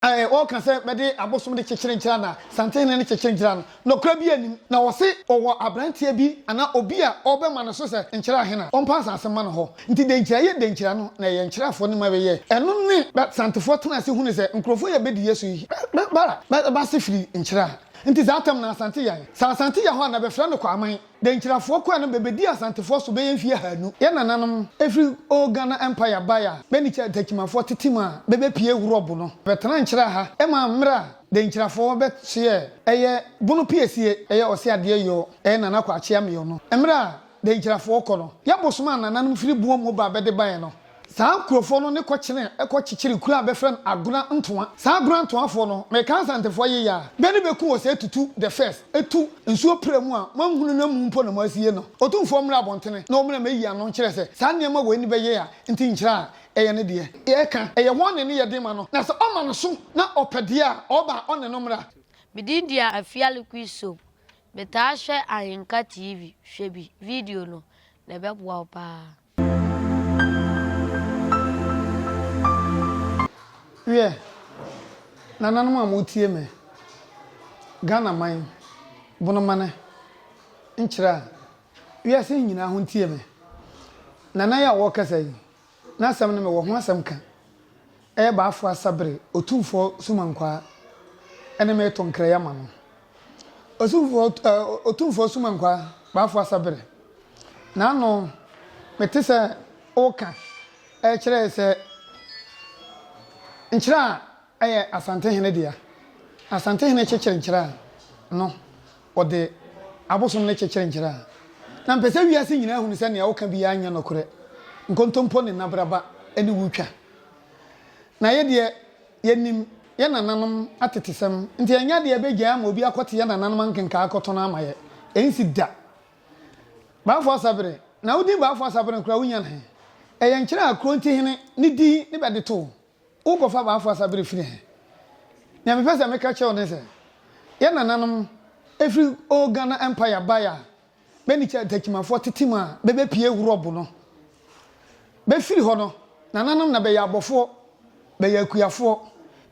Ɛɛ, wɔka sɛ bɛde abosom de kyekyere Nkyira na Santehene no kyekyere Nkyira no, nɔkora biaa nnim. Na wɔse ɔwɔ abranteɛ bi anaa obi a ɔɔbɛma no so sɛ Nkyira hena, ɔmpa asase mma no hɔ. Nti dɛ Nkyira yɛ dɛ Nkyira no, na ɛyɛ Nkyirafoɔ no ma bɛyɛɛ. Ɛno ne bɛ Santefoɔ tenaa ase hunu sɛ nkurɔfoɔ yi a bɛdi yɛ so yi, bɛ bɛ bɛ ase firi Nkyira. Nti saa tɛm no Asante Yan. Sɛ Asante Yan hɔ a na bɛfrɛ no Kwaman. Denkyirafoɔ kɔɛ no bɛbɛdii Asantefoɔ so bɛyɛ mfie ahaanu. Yɛn nananom firi Old Ghana Empire baeɛ a bɛne Takyimafoɔ tetem a bɛbɛpie Wurɔbo no bɛtenaa Nkyira ha maa mmerɛ a Denkyirafoɔ bɛsoɛ ɛyɛ Bono piesie ɛyɛ Ɔse adeɛ yɔɔ ɛyɛ Nana Kwaakyea Meyɔ no. Mmerɛ a Denkyirafoɔ kɔ no, Yabo somaa nananom firi Buom ba bɛde baeɛ no. Saa nkurofoɔ no ne kɔ kyenee kɔ kyekyeree kuro a bɛfrɛ no Agona Ntoa. Saa Agona Ntoa foɔ no, me ka Nsantefoɔ yeye a, bɛ ne bɛ ku wɔ sɛ tutu the first, tu nsuo pra mu a moanhunu no amu mpo na moasie no. Otumfoɔ mmra abɔntene na ɔmuna mɛyi ano nkyerɛ sɛ saa nneɛma wei ne bɛyɛ a nti nkyerɛ a ɛyɛ ne deɛ. Yɛka, ɛyɛ hɔn ne ne yɛ den ma no, na sɛ ɔma no so na ɔpɛ deɛ a, ɔba a ɔne no mmra. Me din dia Afiali Quisom, me taa hwɛ Ahenka TV, hwɛ bi, video no, na ɛbɛboa wo paa. Wiɛ, nananom a moretie me, Ghana man, Bonomane, nkyerɛ a, wiase nyinaa ho ntie me. Nana yi a ɔrekasa yi, n'asɛm no mewɔ ho asɛm ka. Ɛyɛ bɛafo asa bere Otumfoɔ Sumankwaa ne me reto nkra yi ama no. Osumfoɔ eh, Otumfoɔ Sumankwaa, bɛafo asa bere. N'ano, mete sɛ woka ɛrekyerɛ sɛ Nkyerɛ a ɛyɛ Asantehene dea. Asantehene kyekyere Nkyerɛ a, no, Wɔde abosom no kyekyere nkyerɛ a, na mpɛ sɛ wiase nyinaa hunu sɛ nea woka biara nyɛ nokorɛ. Nkontompo ne nnabraba ne wo twa. Na yɛ deɛ, yɛnim yɛn nananom atetesɛm, nti ɛnyɛ adeɛ a ɛbɛgyae ama obi akɔte yɛn nananom ankenkaa akɔto no ama yɛ. Ɛnsi da. Baafo Asabere, na wo din Baafo Asabere no koraa, wonya no he? Ɛyɛ nkyerɛ a Kurontihene ne din ne bɛde too Wo kɔfa baa fo asa bere firi he? Nea mepɛ sɛ meka kyerɛ wo ne sɛ, yɛ nananom firi old Ghana Empire bae a, bɛ ne Kyantakyimafoɔ tete mu a bɛbɛ pie Eurob no. Bɛ firi hɔ no, nananom na bɛyɛ abɔfoɔ, bɛyɛ akuafoɔ,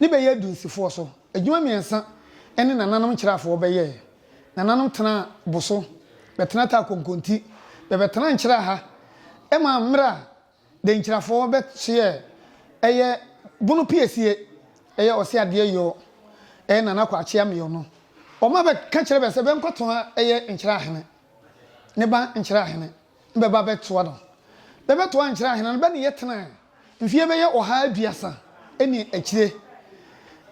ne bɛyɛ adunsifoɔ so adwuma mmiɛnsa ne nananom nkyerɛafoɔ bɛ yɛɛ. Nananom tenaa bo so, bɛ tena taa konkonti, bɛbɛ tenaa nkyerɛ ha ma mmerɛ a Denkyirafoɔ bɛ kyeɛ ɛyɛ bono piesie ɛyɛ ɔse adeɛ yɔɔ ɛyɛ Nana Kwakye Ameɔ no ɔma bɛ ka kyerɛ bɛ sɛ bɛ nkɔ toa ɛyɛ Nkyira Ahene ne ba Nkyira Ahene no bɛ ba bɛ toa no bɛ bɛ toa Nkyira Ahene no bɛ ne yɛ tenaɛ mfie bɛ yɛ ɔha aduasa ɛne akyire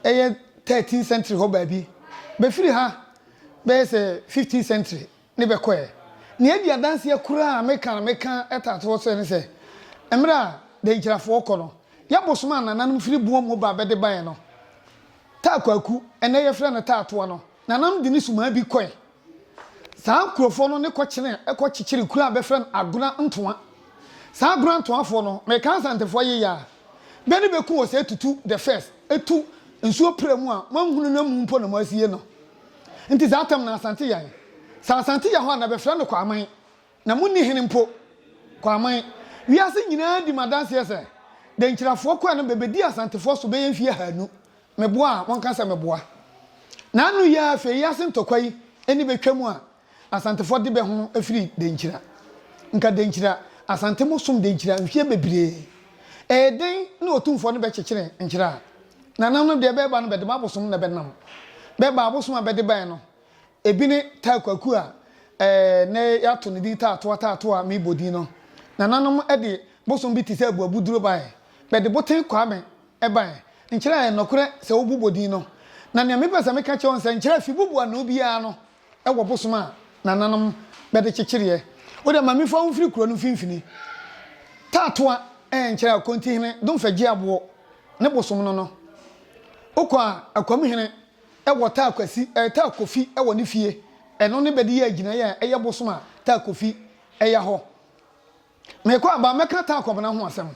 ɛyɛ thirteen century hɔ baabi bɛ firi ha bɛ yɛ sɛ fifteen century. ne bɛkɔ ɛ. Nea edi adanseɛ koraa a meka na meka taa to hɔ sɛ ne sɛ, mmerɛ a Dankyirafoɔ kɔ no, yɛ bosom a nananom firi boɔ mu ba bɛde baeɛ no, Taa Kwaku, ɛnnɛ yɛfrɛ no Taa Toa no, nananom de ne sumaa bi kɔe. Saa nkurofoɔ no ne kɔkyenee kɔ kyekyeree kuro a bɛfrɛ no Agona Ntoa. Saa Agona Ntoafoɔ no, meka Asantefoɔ yeyɛ a, bɛ ne bɛku wɔ sɛ tutu the first, tu nsuo pira mu a moanhunu no amu mpo na moasie no. Nti saa tam no Asante Yan. Sɛ Asante yɛ hɔ a na bɛfrɛ no Kwaman. Na monni hene mpo. Kwaman. Wiase nyinaa di me adanseɛ sɛ Denkyirafoɔ kɔɛ no bɛbɛdi Asantefoɔ so bɛyɛ mfie ahaanu. Meboa a, monka sɛ meboa. Na ano yi ara afei yi ase ntɔkwa yi ani bɛtwam a, Asantefoɔ de bɛ ho firi Denkyira. Nka Denkyira, Asante mo som Denkyira mfeɛ bebree. Ɛyɛ den ne Otumfoɔ no bɛkyekyere Nkyira. Nana no deɛ bɛɛba no bɛde mo abosom na bɛnam. Bɛɛba abosom a bɛde baɛ no, ebi ne Taa Kwaku a nnɛ yɛato ne din Taatoa Taatoa meebɔ din no. Nananom de bosom bi te sɛ Abuabuduro baɛ. Bɛde Boten Kwame baɛ. Nkyira ɛyɛ nɔkorɛ sɛ wobu bɔ din no. Na nea mepɛ sɛ meka kyerɛ wo ne sɛ Nkyira fi bubu anoo biara no wɔ bosom a nananom bɛde kyekyereɛ. Wo deɛ mame fa wo mfiri kuro no mfimfini. Taatoa nkyerɛ Akontihene Domfɛ gye aboɔ ne bosom no no. Wo kɔ a Akwamuhene wɔ taa kwasi eh, taa kofi wɔ ne fie. Ɛno ne bɛde yɛ agyinaeɛ a ɛyɛ bosom a taa kofi ya hɔ. Mekɔ a, ba mɛka taa kɔbena ho asɛm.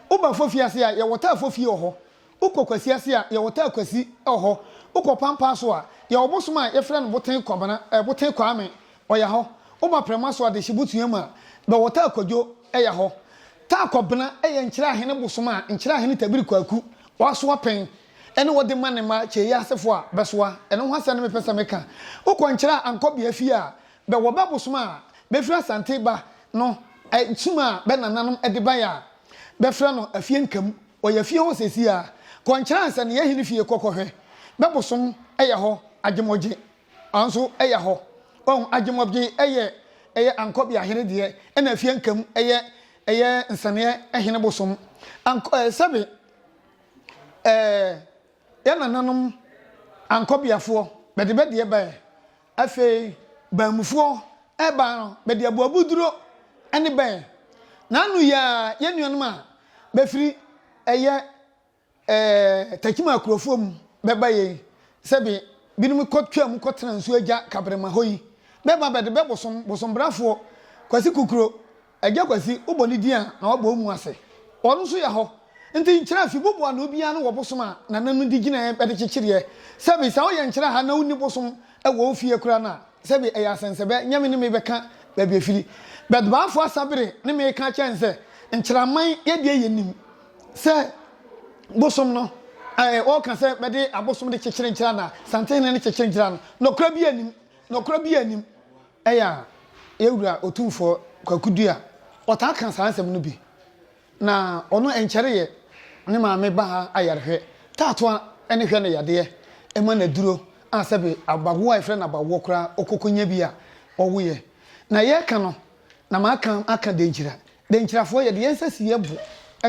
Wo ba fofie ase a, yɛwɔ taa fofie wɔ hɔ. Wo kɔ kwasi ase a, yɛwɔ taa kwasi wɔ hɔ. Wo kɔ pampaa so a, yɛwɔ bosom a yɛfrɛ no boten kɔbena, eh, boten kwaame, ɔya hɔ. Wo ba prɛma so a, de hyebotua mu a, bɛwɔ taa kwadwo ɛya hɔ. Taa kɔbena ɛyɛ nkyerɛahene bosom a nkyerɛahene tabiri kwaku ɔasoa pɛn ɛne ɔde ma ne mma kyeeɛ asefo a bɛsoa. Ɛno ho asɛm ne mepɛ sɛ meka. Wo kɔ nkyerɛ a ankɔbea fie a, Bɛ wɔ bɛ bosom a befiri Asante ba no nkyim a bɛ nananom de bae a bɛfrɛ no Afie Nkamu. Ɔyɛ fie hɔ seesei ara. Kɔ Nkyene Ansania Hene fie kɔ kɔhwɛ. Bɛ bosom yɛ hɔ Agyemɔgye nso yɛ hɔ. Wahu? Agyemɔgye yɛ yɛ Ankɔbea Hene deɛ ɛna Afie Nkamu yɛ yɛ Nsaneɛ Hene bosom. Ankɔ ɛɛ sɛbe ɛɛ yɛ nananom Ankɔbeafoɔ bɛde bɛ deɛ baɛ Afei baanmufoɔ rebaa no, bɛde aboabuduro ne bɛɛ. N'ano yiaa yɛn nuanom a bɛfiri ɛyɛ ɛɛ Takyima akurofoɔ mu bɛba yei, sɛ be binom kɔ twaa mu kɔtena nsuo agya Kabrema hɔ yi, bɛba bɛde bɛ bosom, bosombrafoɔ, Kwasi Kukuro, Agya Kwasi, wo bɔ ne din a, na wabɔ wo mu ase. Ɔno nso yɛ hɔ. Nti nkyerɛ fi bobo ano biara no wɔ bosom a Nana no de gyinaeɛ bɛde kyekyereɛ. Sɛbi, sɛ woyɛ nkyerɛ ha na wonni bosom wɔ wo fie koraa no a, sɛbi ɛyɛ asɛnsɛbɛ, nyɛ me ne me bɛka baabi ɛfiri. But Baafoɔ Asabere ne me reka akyerɛ no sɛ, Nkyerɛman yɛ deɛ yɛnim sɛ bosom no, ɛɛ, wɔreka sɛ bɛde abosom de kyekyere nkyerɛ anaa? Santehene no kyekyere nkyerɛ no. Nɔkorɛ biara nnim. Nɔkorɛ biara nnim. Ɛyɛ a yɛn Wura Otumfoɔ Kwaku Duah ɔtaa ka saa nsɛm no bi. Na ɔno ɛnkyɛreeɛ ne maame baa ha ayarehwɛ, taatoa ne hwɛ no yadeɛ, ɛma no aduro a sɛbe abawoɔ a yɛfrɛ no abawoɔ koraa ɔkɔkɔnya bi a ɔwoeɛ. Na yɛreka no na maka aka denkyira Denkyirafoɔ, Yɛde yɛn nsa si yɛn bo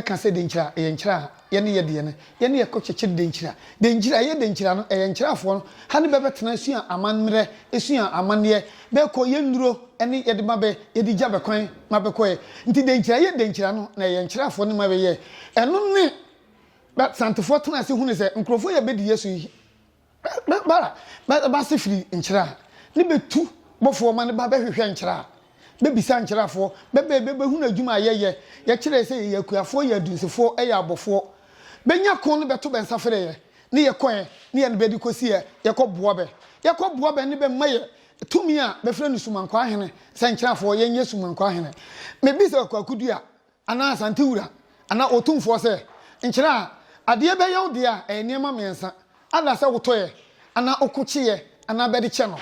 ka sɛ denkyira, ɛyɛ nkyira a yɛne yɛ deɛ no, yɛne yɛ kɔ kyekyere denkyira. Denkyira, ɛyɛ denkyira no, ɛyɛ nkyirafoɔ no, ha ne bɛ bɛtena asua amammerɛ, asua amanneɛ, bɛ kɔ yɛ nnuro ne yɛde ma bɛ, yɛde gya bɛ kwan ma bɛ kɔɛ. Nti denkyira, ɛyɛ denkyira no, na ɛyɛ nkyirafoɔ ne ma bɛ yɛɛ. Ɛno ne bɛ Santefoɔ tena ase hunu sɛ nkurɔfoɔ yi a bɛ di yɛ so yi, Bɛ ba a, bɛ ba ase firi nkyerɛ a, ne bɛ tu bɔfoɔ ma no ba bɛ hwehwɛ nkyerɛ a, bɛ bisa nkyerɛafoɔ, bɛ ba a bɛ bɛ hunu adwuma a yɛ yɛ, yɛ kyerɛɛ sɛ yɛ yɛ akuafoɔ, yɛ adunsifoɔ, yɛ abɔfoɔ. Bɛ nya ko ne bɛ to bɛ nsa frɛ yɛ, ne yɛ kɔ ɛ, ne yɛ ne bɛ de kɔ si ɛ, yɛ kɔ boa bɛ. Yɛ kɔ boa bɛ ne bɛ ma yɛ tumi a bɛ frɛ no Sumankɔ Ahene, sɛ nkyerɛafoɔ, yɛ nyɛ Sumankɔ Ahene. Me bisa Kwaku Dua, anaa Asante Wura anaa Otumfoɔ sɛ, Nkyerɛ a adeɛ bɛyɛ wo deɛ a ɛyɛ nneɛma mmiɛnsa, ada sɛ wotɔeɛ anaa ɔko kyeeɛ anaa bɛde kyɛ no,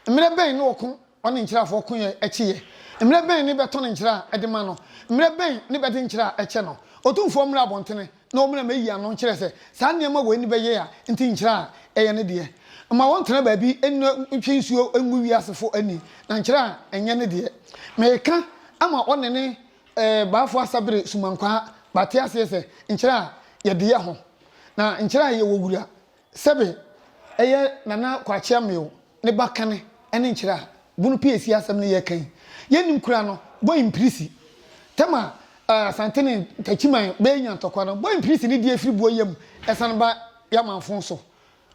mmerɛ bɛn ne ɔko ɔne nkyerɛafoɔ koeɛ kyeeɛ, mmerɛ bɛn ne bɛtɔn nkyerɛ a de ma no, mmerɛ bɛn ne bɛde nkyerɛ a kyɛ no. Otumfoɔ mmra abɔntene na ɔmmra mɛyi ano nkyerɛ sɛ saa nneɛma wei ne bɛyɛ a nti nkyerɛ a ɛyɛ ne deɛ. Mma wɔntena baabi nna ntwe nsuo ngu wiasefo ani na nkyerɛ a nyɛ ne deɛ. Meka ama ɔne ne Ɛɛ, b'afo asa bere sumankwaa b'ate aseɛ sɛ nkyerɛ a yɛde yɛ ho na nkyerɛ a yɛwɔ wura sɛbe ɛyɛ Nana Kwakye Amew ne ba kane ɛne nkyerɛ a bunu pii asi asɛm no yɛka yi yɛ nnim koraa no bɔ mpirisi tɛm a Asante ne Ntakyiman bɛɛ nya ntɔkwa no bɔ mpirisi ne deɛ firi boɔ yɛ mu ɛsane ba yɛ amanfo so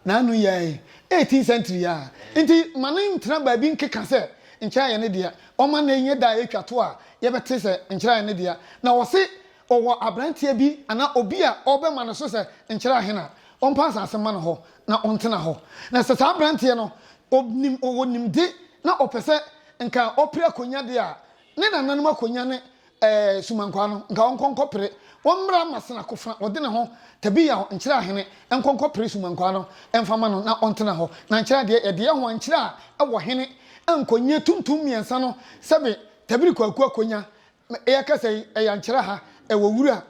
N'ano yɛe eighteenth century a nti ma no ntena baabi nkeka sɛ nkyerɛae no dea ɔma nnɛ nyɛ da a etwa to a yɛbɛte sɛ nkyerɛae no dea na wɔse ɔwɔ abranteɛ bi anaa obi a ɔrebɛma no so sɛ nkyerɛ ahen a ɔmpa asase mma no hɔ na ɔntena hɔ na sɛ saa abranteɛ no ɔnim ɔwɔ nimde na ɔpɛ sɛ nka ɔpere akonnwa deɛ a Ne nananom akonya ne ɛɛ sumankwaa no, nka wɔnkɔ nkɔpere, wɔmmra mmasene akofena, wɔde ne ho, Tabiao, nkyerɛ ahene, nkɔ nkɔpere sumankwaa no, mfa mma no na ɔntena hɔ, na nkyerɛ adeɛ, yɛde yɛn ho ankyerɛ a ɛwɔ hene, nkɔnyie tuntum mmiɛnsa no, sɛbe, Tabiri Kwaku akonya, me, yɛrekasa yi, ɛyɛ ankyerɛ ha, Ɛwɔ wura,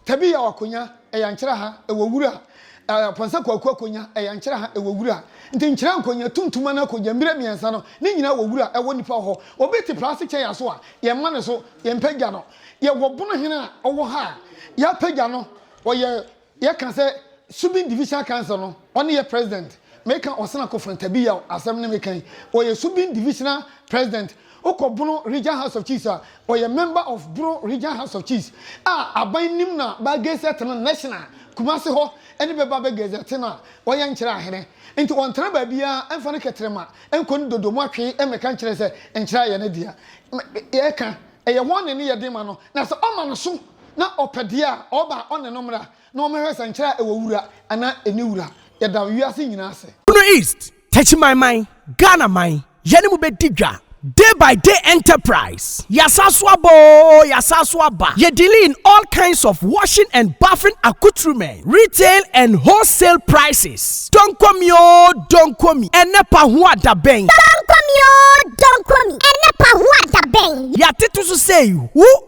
Tabiyaw Akonya, ɛyɛ nkyerɛ ha, ɛwɔ wura, Aponsa Kwaku Akonya, ɛyɛ nkyerɛ ha, ɛwɔ wura, nti nkyerɛ Nkonya, Tumtum anaa Kogya, Mbire mmiɛnsa no, ne nyinaa wɔ wura, ɛwɔ nipa hɔ. Obi te praase kyɛ yɛn so a, yɛmma no so, yɛmpagya no. Yɛwɔ Bonohene a ɔwɔ ha a, yɛapagya no, ɔyɛ Yɛ ka sɛ Subin Divisional Council no, ɔne yɛ President. Me ka Osena Kofran Tabiyaw asɛm ne me ka yi. Ɔyɛ Subin Divisional President. Wo kɔ Bono Region House of Chiefs a, ɔyɛ Member of Bono Region House of Chiefs a aban nim na bɛ gazette no National. Kumasi hɔ ne bɛ ba bɛ gazette no a ɔyɛ nkyerɛ ahene. Nti ɔntena baabiara ɛmfa ne kɛtrɛma nkɔ ne dodo mu atwe ɛmɛka nkyerɛ sɛ nkyerɛ ayɛ ne dea. Yɛ ka ɛyɛ wɔn ne ne yɛ de ma no na sɛ ɔma no so. na ɔpɛ deɛ a, ɔba a ɔne no mmra na wɔmmɛhwɛ sɛ nkyerɛ a ɛwɔ wura anaa ɛnni wura. Yɛda wiase nyinaa ase. Bono East, Techimanman, Ghana man, yɛne mo bɛdi dwa, Day by Day Enterprise, yɛasan so aba oo, yɛasan so aba, yɛ dealing in all kinds of washing and bathing accoutrements, retail and wholesale prices, Donkomi oo, Donkomi, ɛnnɛ pa ho a da bɛn. Donkomi oo, Donkomi, ɛnnɛ pa ho a da bɛn. Yɛatete so sei, wo.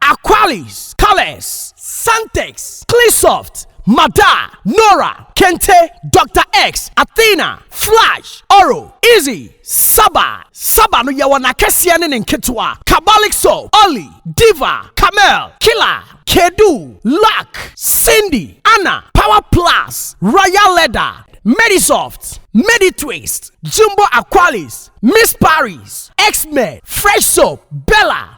Aqualis, Calex, Santex, Cleansoft, Mada, Nora, Kente, Doctor X, Athena, Flash, Oro, Easy, Saba, Saba no yɛwɔ n'akɛseɛ ne ne nketewa, Kabalik Soap, Olly, Diva, Camel, Killer, Kedu, Luck, Cindy, Anna, Power Plus, Royal Leather, Medisoft, Meditwist, Jumbo Aqualis, Miss Paris, X-Men, Fresh Soap, Bella,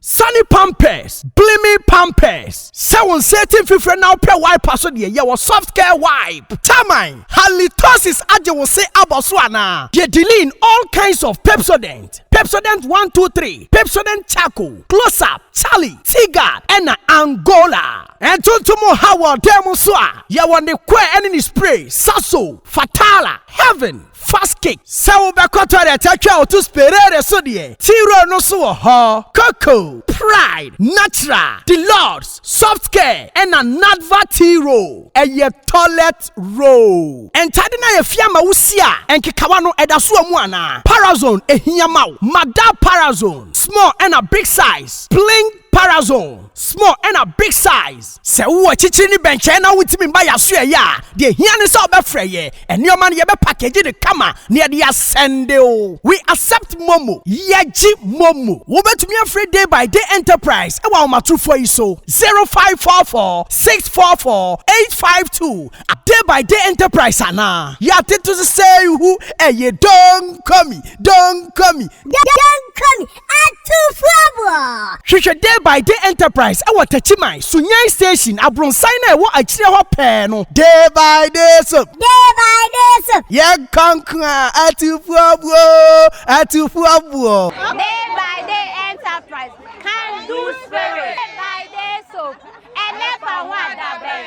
Sane pampers, Gleaming pampers, Sɛ wo nsa ati mfifire na wopɛ wiper so deɛ, yɛ wɔ Soft Care Wipe. Termine, Halitosis agye wo se abɔ so anaa? Deɛ Deline, All kinds of Pepsodent, Pepsodent one two three, Pepsodent Charcoal, Close Up, Charlie, Teaguard, ɛna Angola. Ntontom nhaw wɔ dan mu nso a, yɛ wɔ ne coir ɛne ne spray, Saso, Fatala, Heaven. Fast kick, Sɛ wobɛkɔ toilet atwa wo to sperere so deɛ, T-Roll no nso wɔ hɔ. Koko, Pride, Natural, The Lords, Soft Care, ɛna Nadva T-Roll. Ɛyɛ toilet roll. Ntade no ayɛ fi ama wo si a, nkekawa no, ɛda so wɔ mu anaa? Parazone, ɛhia ma wo. Madar Parazone, Small ɛna Big Size, Bling. Parazone, small ɛna big size. Sɛ wowɔ akyirikyiri ne bɛnkyɛn na wontumi mma yɛn asoɛeɛ a, deɛ ɛhia ne sɛ wobɛfrɛ yɛn. Nneɛma no, yɛbɛpakegye no kama na yɛde asɛnde wo. We accept Momo. Yɛgye Momo. Wobɛtumi afrɛ Day by Day Enterprise wɔ ahomatorofoɔ yi so, 0544 644 852. Day by Day Enterprise anaa? Yɛatete so sɛ ihu, ɛyɛ Don't call me, don't call me. Don't call me. Atufoɔ! Hwehwɛ Day by Day Enterprise wɔ Takyiman, Sunyani Station, abronsan no a ɛwɔ akyire hɔ pɛɛ no. Day by Day Soap. Day by Day Soap. Yɛnkɔ nko a, Atufoɔbuo! Atufoɔbuo! Day by Day Enterprise, Can Do Spirit. Day by Day Soap, Ɛnɛ fa ho adabɛn,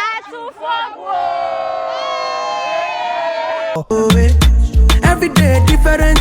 Atufoɔbuo! Every day different.